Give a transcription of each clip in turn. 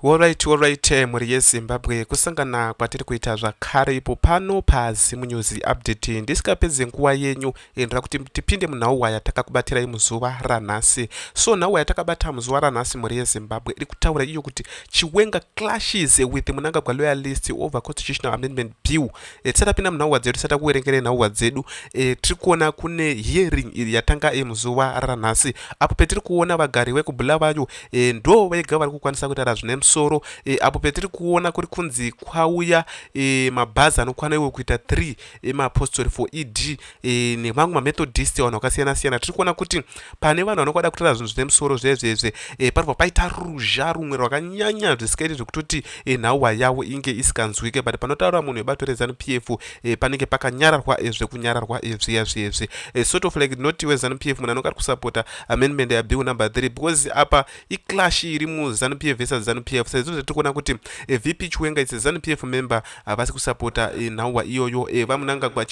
Alright, alright, eh, mhuri yeZimbabwe kusangana kwatiri kuita zvakare ipo pano paZim News Update. Ndisikapedze nguva yenyu endera kuti tipinde munhauwa yatakakubatirai muzuva ranhasi. So nhauwa yatakabata muzuva ranhasi mhuri yeZimbabwe iri kutaura iyo kuti Chiwenga clashes with Munangagwa loyalist over constitutional amendment bill. E, tisati tapinda munhauwa dzedu tisati takuverengera nhauwa dzedu e, tiri kuona kune hearing yatanga e, muzuva ranhasi apo petiri kuona vagari vekubulawayo e, ndo vega vari kukwanisa kutaura zvine musoro e, apo petiri kuona kuri kunzi kwauya e, mabhazi anokwana iwe kuita 3 emapostori for ed e, nemamwe mamethodist vanhu vakasiyana siyana tiri kuona kuti pane vanhu vanokwada kutaura zvinhu zvine musoro zvezvezve e, paribva paita ruzha rumwe rwakanyanya zvisikaiti zvekutoti e, nhauwa yavo inge isikanzwike but panotaura munhu webato rezanu p f e, panenge pakanyararwa e, zvekunyararwa e, zviya zviyezvi e, sort of like not wezanu p f munhu anonga ari kusapota amendment yabill number 3 because apa iclash iri muzanu p f vesa zanu p f saizvo zvatiri kuona kuti e eh, vp chiwenga its zanu p f member havasi kusapota e, eh, nhauwa iyoyo e, eh, vamunangagwa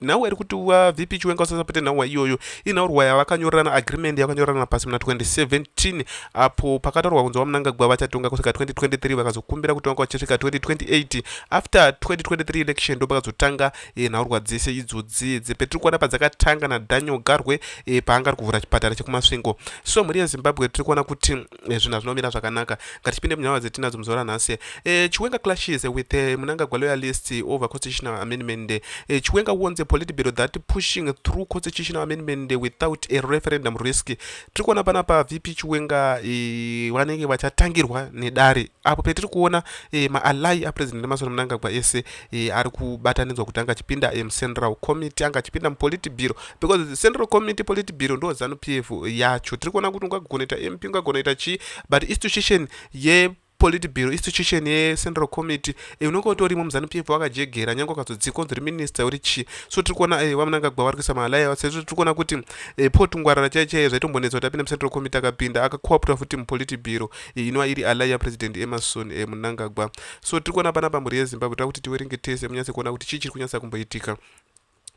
nhauwa iri kuti wa vp chiwenga usasapote nhauwa iyoyo inhaurwa yavakanyorerana agreement yakanyorerana pasi muna 2017 apo pakataurwa kunzi vamunangagwa vachatonga kusvika 2023 vakazokumbira kutonga vachisvika 2028 after 2023 election ndopakazotanga e, nhaurwa dzese idzodzii dzepetiri kuona padzakatanga nadaniel garwe e, paanga ari kuvhura chipatara chekumasvingo so mhuri yezimbabwe tiri kuona kuti e, zvinhu hazvinomira zvakanaka ngatichipinde munhava dzetinadzo muzuva ranhasi e, chiwenga clashes with e, munangagwa loyalist over constitutional amendment e, chiwenga wonze politbiro that pushing through constitutional amendment without a referendum risk tiri kuona pana pa vp chiwenga e, vanenge vachatangirwa nedare apo petiri kuona e, maalai apresident emasoro munangagwa ese e, ari kubatanidzwa kuti anga achipinda mucentral committee anga achipinda mupolitibiro because central committee politibiro ndo zanu p f yacho tiri kuona kuti ungagona ita mp ungagona ita chii but institution ye politibiro institution yecentral committee e, unenge utorimo muzanu p f wakajegera nyange ukazodzika unziri minister uri chii so tiri kuona e, vamunangagwa vari kuisa maalayawa sezvo tiri kuona kuti e, potungwarara chai chaiye zvaitombonetsa kuti apinda mucentral committee akapinda akakoaptwa futi mupolitibiro e, inova iri alaya president emason e, munangagwa so tiri kuona panapa mhuri yezimbabwe toda kuti tiwerenge tese munyatse kuona kuti chii chiri kunyatsa kumboitika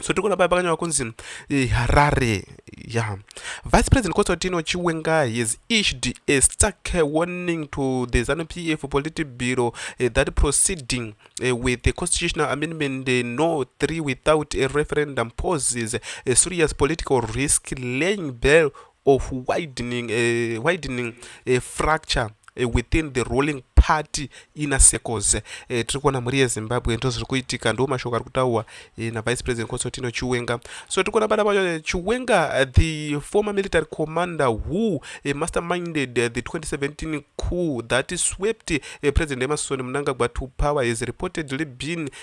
so tiri kuona paya pakanyorwa kunzi eh, harare ya vice president constantino chiwenga has issued a stark warning to the zanu p f politi bureau uh, eh, that proceeding uh, with the constitutional amendment uh, no 3 without a referendum poses a serious political risk laying bell of widening, uh, widening uh, fracture uh, within the rolling party ina circles uh, tiri kuona mhuri yezimbabwe ndo zviri kuitika ndo mashoko ari kutaurwa uh, navice president constantino chiwenga so tiri kuona bada vacho chiwenga uh, the former military commander who uh, masterminded uh, the 2017 coup that swept uh, president emerson mnangagwa to power has reportedly been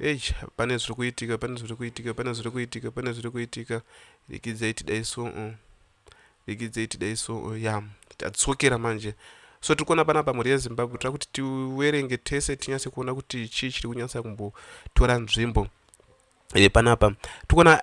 Eish pane zviri kuitika pane zviri kuitika pane zviri kuitika pane zviri kuitika rikidzai tidai so uh. rikidzai tidai so uh. ya tadzokera manje so tiri kuona panapa mhuri yezimbabwe tira kuti tiwerenge tese tinyase kuona kuti chii chiri kunyasa kumbotora nzvimbo e, panapa tikuona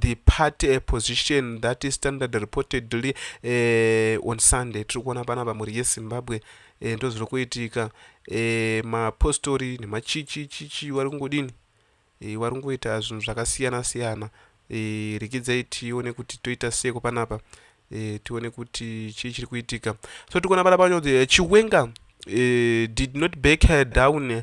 the party a position that is standard reportedly uh, on sunday tiri kuona panapa mhuri yezimbabwe uh, eh, ndozviri kuitika uh, mapostori nemachichi chichi vari kungodini uh, vari kungoita zvinhu zvakasiyana siyana uh, rikidzai tione kuti toita seko panapa uh, tione kuti chii chiri kuitika so tiri kuona panapa nyodzi chiwenga uh, did not back her down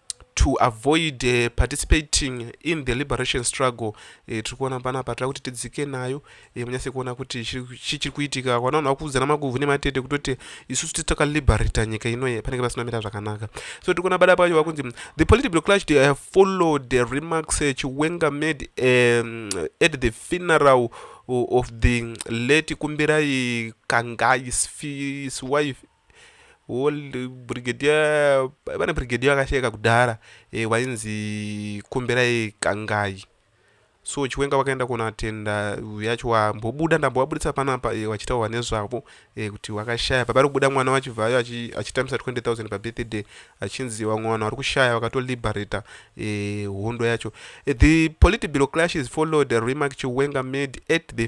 to avoid uh, participating in the liberation struggle uh, tiri kuona panapa tira kuti tidzike nayo uh, eh, munyase kuona kuti chii chiri kuitika vana vanhu vakuudzana maguvhu nematete kutoti isusu titi takaliberata nyika inoye panenge pasina mira zvakanaka so tiri kuona bada pacho vakunzi the political clash they have followed the remarks uh, chiwenga made um, at the funeral of the late kumbirai kangai his wife old brigadier vana brigadier vakasheka kudhara e, eh, wainzi kumberai kangai so chiwenga vakaenda kunatenda yacho wambobuda ndambovabudisa panapa e, eh, wachitaurwa nezvavo e, kuti wakashaya pavari kubuda mwana wachivhayo achitambisa 20000 pabirthday achinzi vamwe vanhu vari kushaya vakatoliberata e, hondo yacho e, the political clashes followed remark chiwenga made at the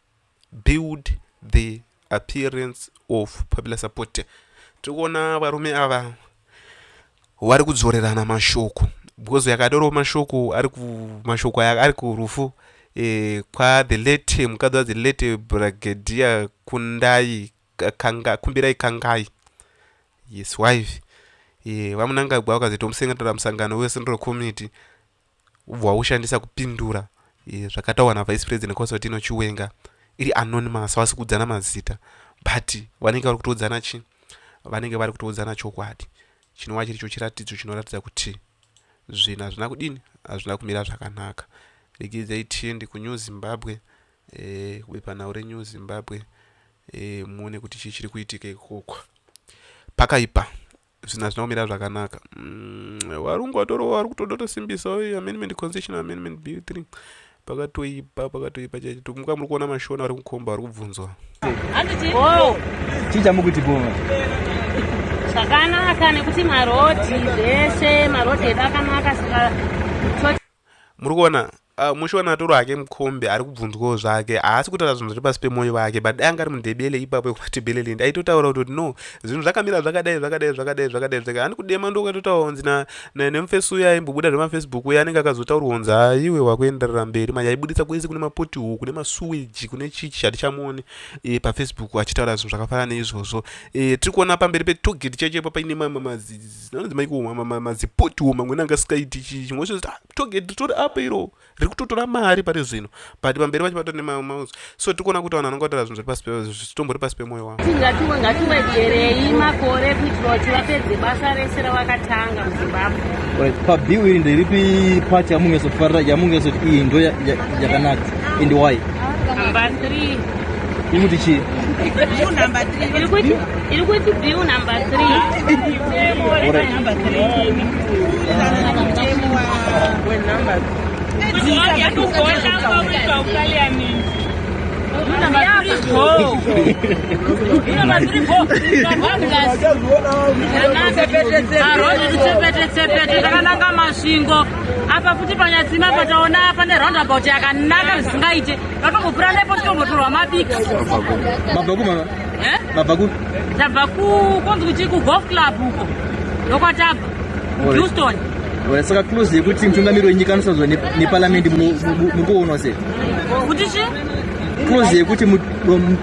build the appearance of popular support tiri kuona varume ava vari kudzorerana mashoko because yakadoro mashoko ari mashoko aya ari kurufu eh, kwathe late mukadzi wadzi late brigadier kundai kanga, kumbirai kangai yes wife eh, vamunangagwa vakazitomusengetera musangano wesendro committee ubva waushandisa kupindura eh, zvakataurwa navice president constantino chiwenga iri anonymous havasi kuudzana mazita but vanenge vari kutoudzana chii vanenge vari kutoudzana chokwadi chinova chiri cho chiratidzo chinoratidza kuti zvinhu hazvina kudini hazvina kumira zvakanaka regedzai tiende kunew zimbabwe eh, bepanhau renew zimbabwe eh, muone kuti chii chiri kuitika ikoko pakaipa zvinhu hazvina kumira zvakanaka mm, varungu vatorowa vari kutoda kutosimbisawo amendment constitutional amendment bill 3 pakatoipa pakatoipa chaicho tikumuka muri kuona mashona ari kukomba ari kubvunzwa chii chamukuti bova zvakanaka nekuti marodhi zvese marodhi edu akanaka saka muri kuona uh, mushiwana atoro hake mukombe ari kubvunzwawo zvake haasi kutaura zvinhu zviri pasi pemoyo vake but dai anga ari mundebele ipapo ekumatebelelindi aitotaura kuti no zvinhu zvakamira zvakadai zvakadai zvakadai zvakadai zvakadai ani kudema ndo ukatotaura kunzi nemufesi uya aimbobuda zvemafacebook uya anenge akazotaurwa kunzi haiwe wakuenderera mberi manje aibudisa kwese kune mapoti huku kune masuweji kune chichi hatichamuoni e, eh, pafacebook achitaura zvinhu zvakafanana neizvozvo e, tiri kuona pamberi petogeti chechepo paine mamwe mazizi zvinonzi maikuoma mazipotiwo mamwe nanga sikaiti chii chimwe chozoti ah, togeti ritori apo iro riri kutotora mari pari zvino but pamberi pacho patori nemamauzo so tikuona kuti vanhu vanonga vataura zvinhu zviri pasi zvitombori pasi pemwoyo wavo tingatiwe ngatiwedzerei makore kuitira kuti vapedze basa rese ravakatanga muzimbabwe pabill iri nderipi pati yamungezofarira yamungesoti iyi ndo yakanaka and why number three ikuti chii Iri kuti bill number 3. takananga masvingo apa futi panyatsima pataona pane roundabout yakanaka zvisingaite vatomupura nepo titombotorwa mabiki Eh? Mabva ku? Tabva ku konzi kuti ku golf club uko. Ndokwatava. Houston. Well, saka close yekuti mutungamiri wenyika anosazwa nepalamende mukuonwa se kuti chi close yekuti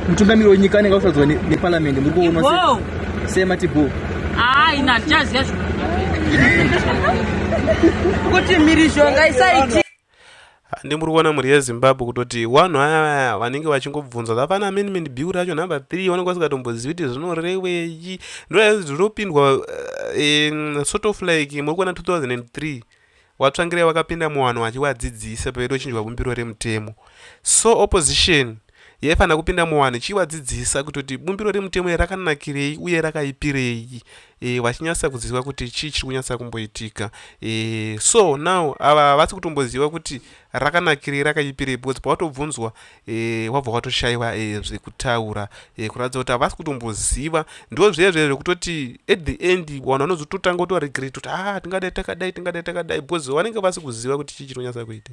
mutungamiri wenyika anenge akusazwa nepalamende muri kuonwa se semati bo haa ina hatichaziva zvikuti mhirizhonga isaiti Handi muri kuona mhuri yezimbabwe kutoti wanhu aya vanenge vachingobvunza zvapana amendment bill racho number three vanenge vasikatombozivi kuti zvinoreweyi ndozvinopindwa uh, eh, eh, sort of like muri kuona 2003 watsvangirai vakapinda muwanhu vachivadzidzisa pavaitochinjwa bumbiro remutemo so opposition yaifanira kupinda muwanhu ichivadzidzisa kutoti bumbiro remutemo iri rakanakirei uye rakaipirei e, vachinyatsa kuziva kuti chii chiri kunyatsa kumboitika e, so now ava havasi kutomboziva kuti rakanakirei rakaipirei because pawatobvunzwa e, wabva watoshaiwa e, zvekutaura e, kuratidza kuti havasi kutomboziva ndozvezve zvekutoti at the end vanhu vanozototanga kuti varegret kuti ha ah, tingadai takadai tingadai takadai because vanenge vasi kuziva kuti chii chinonyatsa kuita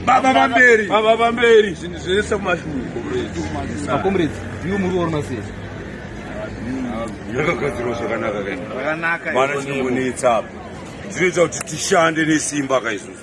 baba vamberi baba vamberi zvinhu zvese kumashuakomredziiwo muri orona sei yakagadzirwa zvakanaka kaimana chinongonetsa apa dzinoita kuti tishande nesimba kaizvozvo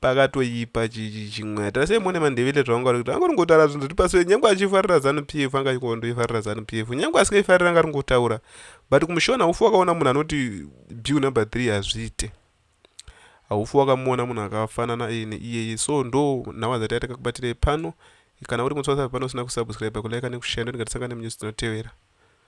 pakatoipa chimwe hatira sei mone mandevile zvaunga uri kuti angoringotaura zvinhu zviri pasi nyange achifarira zanu p f anga achikondoifarira zanu p f nyange asingaifarira anga aringotaura but kumushona haufi wakaona munhu anoti bill number three hazviite haufi wakamuona munhu akafanana iyene iyeye so ndo nhau adzati ataka kubatirei pano kana uri mutswasa pano usina kusubscribe kulike nekushaya ndonikatisangane munyusi dzinotevera